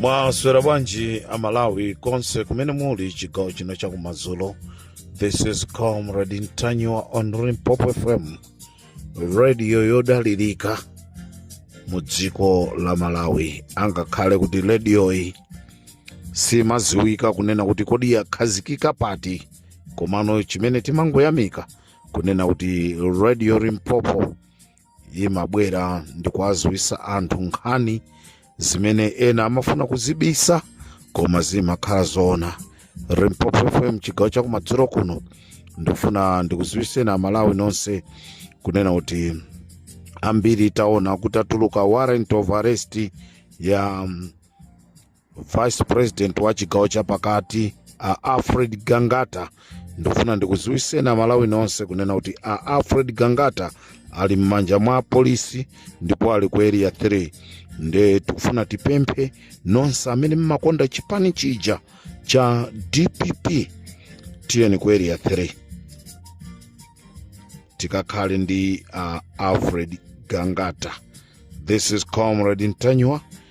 mwaswera bwanji amalawi konse kumene muli chigawo chino chakumadzulo this is comrade ntanyiwa on limpopo fm radio yodalirika mu dziko la malawi angakhale kuti rediyoyi simaziwika kunena kuti kodi yakhazikika pati komano chimene timangoyamika kunena kuti radio limpopo imabwera ndi kuwadziwitsa anthu nkhani zimene ena amafuna kuzibisa koma zimakhala zoona limpopo fm chigawo chakumadzulo kuno ndifuna ndikuziwiseni amalawi nonse kunena kuti ambiri taona kuti atulutsa warrant of arrest ya mm, vice president wa chigawo chapakati a alfred gangata ndifuna ndikuziwiseni amalawi nonse kunena kuti a alfred gangata ali m'manja mwa apolisi ndipo ali ku area 3 nde tikufuna tipemphe nonse amene mmakonda chipani chija cha dpp tiyeni ku area 3 tikakhale ndi uh, alfred gangata this is comrade ntanyiwa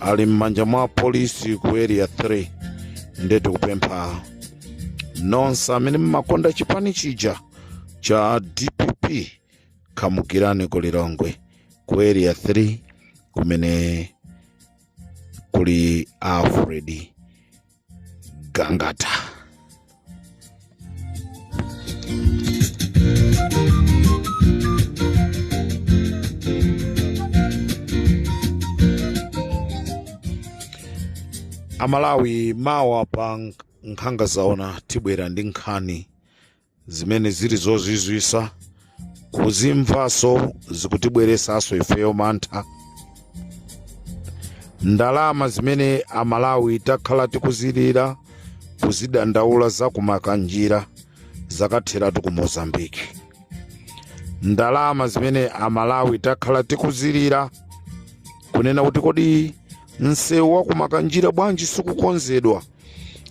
ali m'manja mwa apolisi ku area 3 nde tikupempha nonse amene mmakonda chipani chija cha dpp khamukirani ku lilongwe ku area 3 kumene kuli alfred gangata amalawi mawa pa nk- nkhanga zaona tibwera ndi nkhani zimene zili zozizwisa kuzimvaso zikutibweresaso ifeyo mantha ndalama zimene amalawi takhala tikuzilira kuzidandaula za ku makanjira zakatheratu ku mozambiki ndalama zimene amalawi takhala tikuzilira kunena kuti kodi msewu wa ku makanjira bwanji sikukonzedwa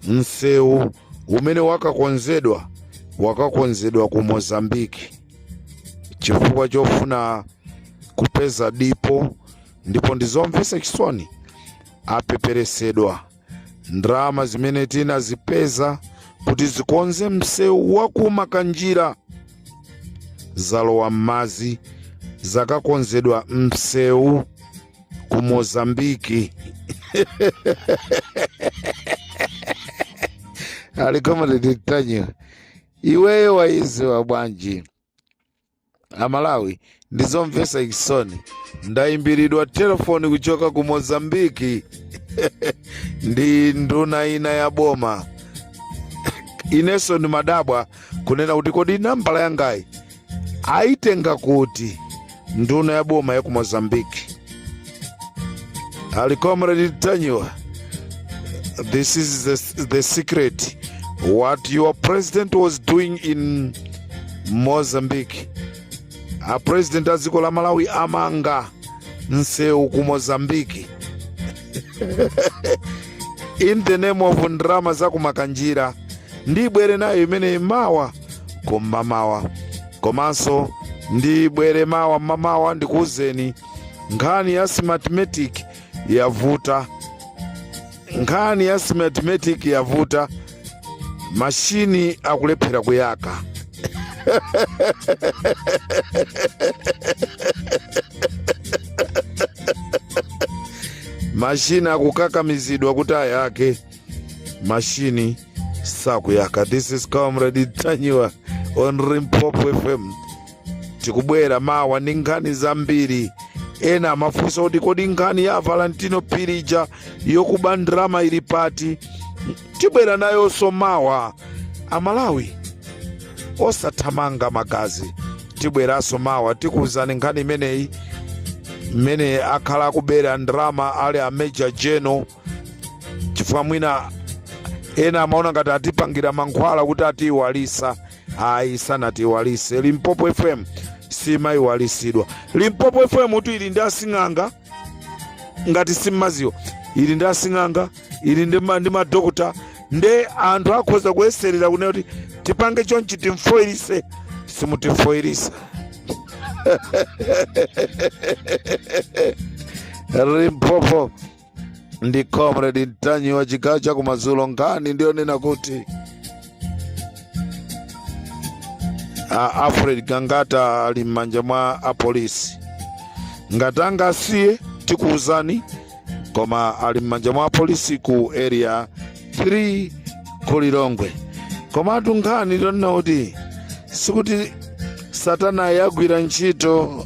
msewu umene wakakonzedwa wakakonzedwa ku mozambiki chifukwa chofuna kupeza dipo ndipo ndizomvesa chisoni apepelesedwa ndalama zimene tinazipeza kuti zikonze msewu wa ku makanjira zalowa m'madzi zakakonzedwa msewu ku mozambiki ali comrade tanyiwa iweyo wayiziwa bwanji amalawi ndizomvesa chisoni ndayimbiridwa telefoni kuchoka ku mozambiki ndi nduna ina ya boma inenso ndimadabwa kunena kuti kodi nambala yangayi Aitenga kuti nduna ya boma ya ku Mozambique? Ali comrade Tanyiwa, this is the, the secret what your president was doing in Mozambique. A president a dziko la Malawi amanga nsewu ku Mozambique in the name of ndrama za kumakanjira ndibwere nayo imene mawa kum'mamawa komanso ndibwere mawa m'mamawa ndikuwuzeni nkhani ya smartmatic yavuta nkhani ya smartmatic yavuta mashini akulephera kuyaka mashini akukakamizidwa kuti ayake mashini sakuyaka this is comrade tanyiwa on limpopo fm tikubwera mawa ndi nkhani zambiri ena amafunsa kuti kodi nkhani ya valentino phiri ija yokuba ndrama ili pati tibwera nayonso mawa amalawi osathamanga magazi tibweranso mawa tikuwuzani nkhani imeneyi mmene akhala akubera ndrama ali a major general chifukwa mwina ena amaona ngati atipangira mankhwala kuti atiiwalisa ayi sanatiiwalise limpopo fm simayiwalisidwa limpopo fm kuti ili ndi asing'anga ngati simmaziwa ili ndi asing'anga ili ndi ma- ndi madokota nde anthu akhoza kuyeserera kunena kuti tipange chonchi timfoyilise simutimfoyilisa limpopo ndi comrade tanyiwa chigawo cha kumadzulo nkhani ndiyonena kuti a alfred gangata ali m'manja mwa apolisi ngati angawasiye tikuwuzani koma ali m'manja mwa apolisi ku area 3 ku lilongwe komatu nkhani ndiyonena kuti sikuti satana yagwira ntchito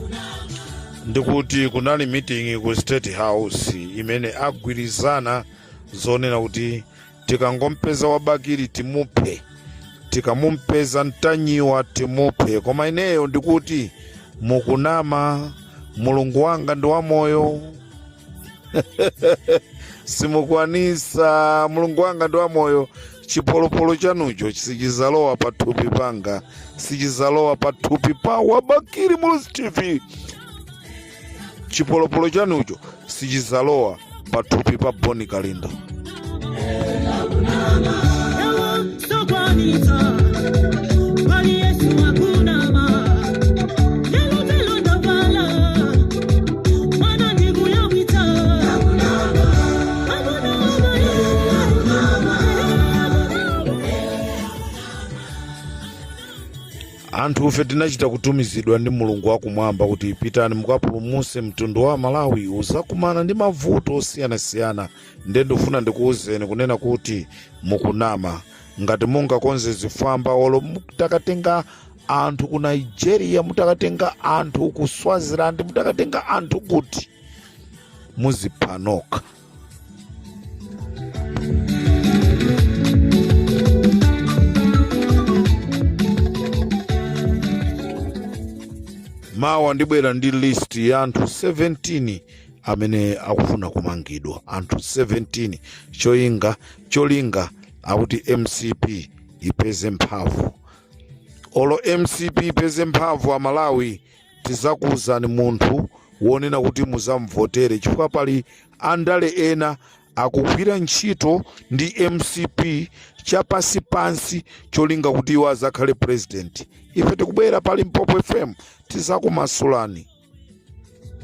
ndikuti kunali meeting ku state house imene agwirizana zonena kuti tikangompeza wa bakili timuphe tikamupeza mtanyiwa timuphe koma ineyo ndikuti mukunama mulungu wanga ndi wamoyo simukwanisa mulungu wanga ndi wamoyo chipolopolo chanucho sichizalowa pa thupi panga sichizalowa pa thupi pa wa bakili muluzi tv chipolopolo chanucho sichizalowa pa thupi pa boni kalindo anthufe tinachita kutumizidwa ndi mulungu wakumwamba kuti pitani mukapulumutse mtundu wa malawi uzakumana ndi mavuto osiyanasiyana ndiye ndifuna ndikuwuzeni kunena kuti mukunama ngati mungakonze zifwamba olo mutakatenga anthu ku nigeria mutakatenga anthu ku swaziland mutakatenga anthu kuti muzipha nokha mawa ndibwera ndi list ya anthu 17 amene akufuna kumangidwa anthu 17 cholinga cholinga akuti mcp ipeze mphamvu olo mcp ipeze mphamvu amalawi tizakuuzani munthu wonena kuti muzamvotere chifukwa pali andale ena akugwira ntchito ndi mcp chapansi pansi cholinga kuti iwo azakhale president ife tikubwera pa limpopo fm tizakumasulani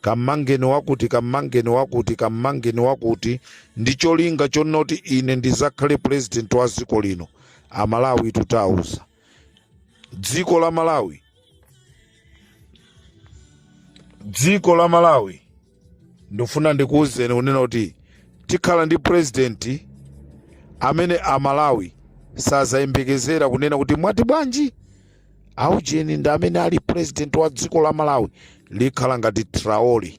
kamangeni wakuti kamangeni wakuti kamangeni wakuti ndi cholinga chonoti ine ndizakhale president wa dziko lino amalawi tauza dziko la malawi dziko la malawi ndifuna ndikuwuzeni kunena kuti tikhala ndi president amene amalawi sazayembekezera kunena kuti mwati bwanji aujeni ndi amene ali president wa dziko la malawi likhala ngati traore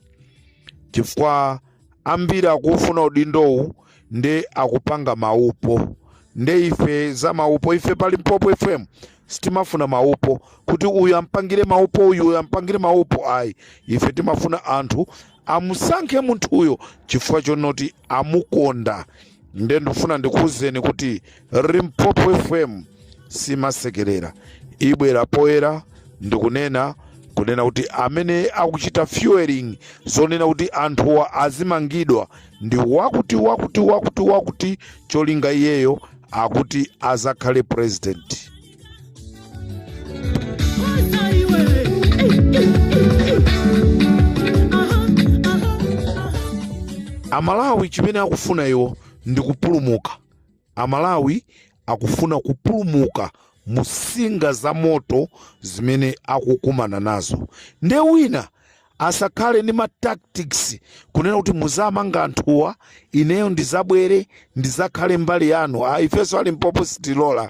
chifukwa ambiri akufuna udindowu nde akupanga maupo nde ife za maupo ife pa limpopo fm sitimafuna maupo kuti uyu ampangire maupo uyu uyu ampangire maupo ayi ife timafuna anthu amusankhe munthuyo chifukwa chonoti amukonda ndiye ndifuna ndikuwuzeni kuti limpopo fm simasekerera ibwera poyera ndikunena kunena kuti amene akuchita fueling zonena kuti anthuwa azimangidwa ndi wakuti wakuti wakuti wakuti cholinga iyeyo akuti azakhale president amalawi chimene akufuna iwo ndi kupulumuka amalawi akufuna kupulumuka mu nsinga za moto zimene akukumana nazo nde wina asakhale ndi ma tactics kunena kuti muzamanga anthuwa ineyo ndizabwere ndizakhale mbali yanu ah, ifenso a limpopo sitilola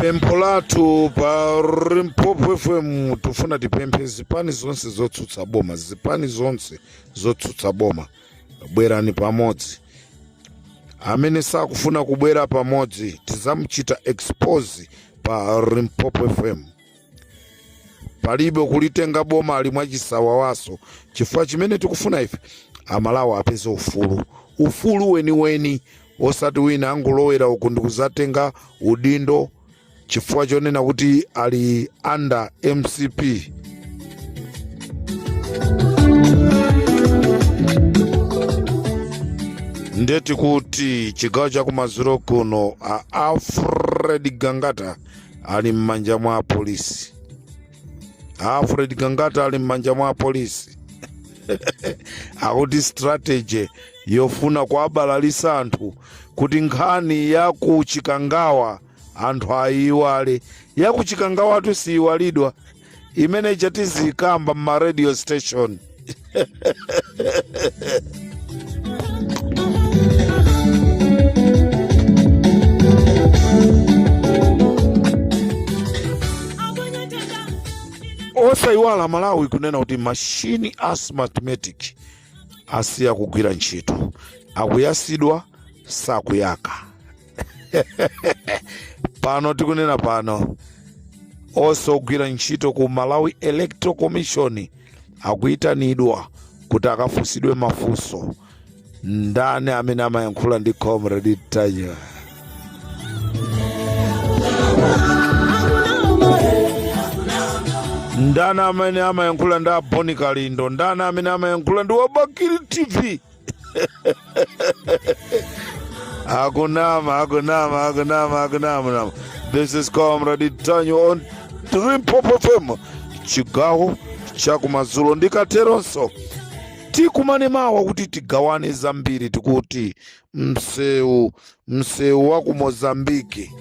pempho lathu pa limpopo fm tifuna tipemphe zipani zonse zotsutsa boma zipani zonse zotsutsa boma bwerani pamodzi amene sakufuna kubwera pamodzi tizamuchita expose pa limpopo fm palibe kulitenga bomali mwachisawawaso chifukwa chimene tikufuna ife amalawi apeze ufulu ufulu weniweni osati wina angolowera uku ndikuzatenga udindo chifukwa chonena kuti ali under mcp nde tikuti chigawo chakumadzulo kuno a alfred gangata ali m'manja mwa apolisi alfred gangata ali m'manja mwa apolisi akuti strategy yofuna kuabalalisa anthu kuti nkhani ya ku chikangawa anthu ayiwale ya ku chikangawatu siyiwalidwa imene ija tiziyikamba mma radio station osayiwala malawi kunena kuti mashini a smartmatic asiya kugwira ntchito akuyasidwa sakuyaka pano tikunena pano onse ogwira ntchito ku malawi electoral commission akuyitanidwa kuti akafunsidwe mafunso ndani amene amayankhula ndi comrade ntanyiwa ndani amene amayankhula ndi a bon kalindo ndani amene amayankhula ndi wa bakili tv Akunama, Akunama, Akunama, Akunama. This is Comrade Ntanyiwa on Limpopo FM. Chigawo chakumadzulo ndikateronso tikumane mawa kuti tigawane zambiri tikuti msewu msewu wa ku mozambiki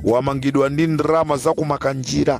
wamangidwa ndi ndalama za kumakanjira